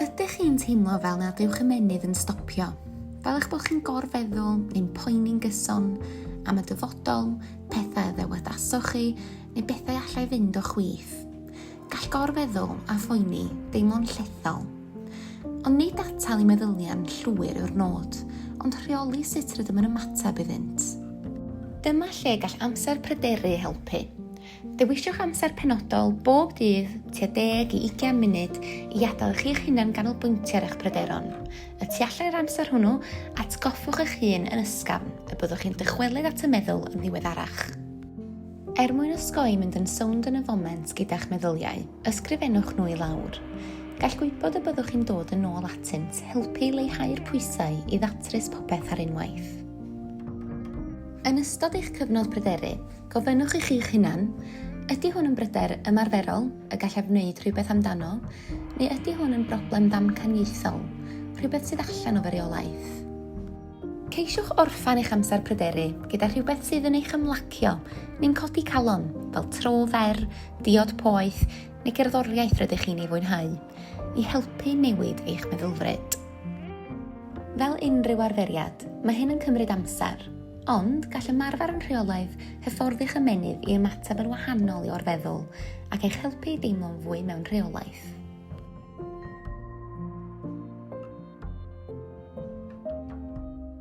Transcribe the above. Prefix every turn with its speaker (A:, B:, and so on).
A: Ydych chi'n teimlo fel nad yw'ch ymennydd yn stopio? Fel eich bod chi'n gorfeddwl neu'n poeni'n gyson am y dyfodol, pethau y ddewadasoch chi, neu bethau allai fynd o chwith. Gall gorfeddwl a phoeni deimlo'n llethol. Ond nid atal i meddyliau'n llwyr yw'r nod, ond rheoli sut rydym yn ymateb iddynt. Dyma lle gall amser pryderu helpu. Dewiswch amser penodol bob dydd tua deg i ugain munud i adael chi'ch hunan ganolbwyntio ar eich pryderon. Y tu allan i'r amser hwnnw, atgoffwch eich hun yn ysgafn y byddwch chi'n dychwelyd at y meddwl yn ddiweddarach. Er mwyn osgoi mynd yn sownd yn y foment gyda'ch meddyliau, ysgrifennwch nhw i lawr. Gall gwybod y byddwch chi'n dod yn ôl atynt helpu i leihau'r pwysau i ddatrys popeth ar unwaith. Yn ystod eich cyfnod pryderu, Gofynnwch i chi'ch hunan, Ydy hwn yn bryder ymarferol y gallaf wneud rhywbeth amdano, neu ydy hwn yn broblem ddamcaniaethol, rhywbeth sydd allan o fy reolaeth? Ceisiwch orffen eich amser pryderu gyda rhywbeth sydd yn eich ymlacio neu'n codi calon, fel tro fer, diod poeth neu gerddoriaeth rydych chi'n ei fwynhau, i helpu newid eich meddylfryd. Fel unrhyw arferiad, mae hyn yn cymryd amser. Ond, gall ymarfer yn rheolaidd hyfforddych ymennydd i ymateb yn wahanol i orfeddwl ac eich helpu i deimlo'n fwy mewn rheolaeth.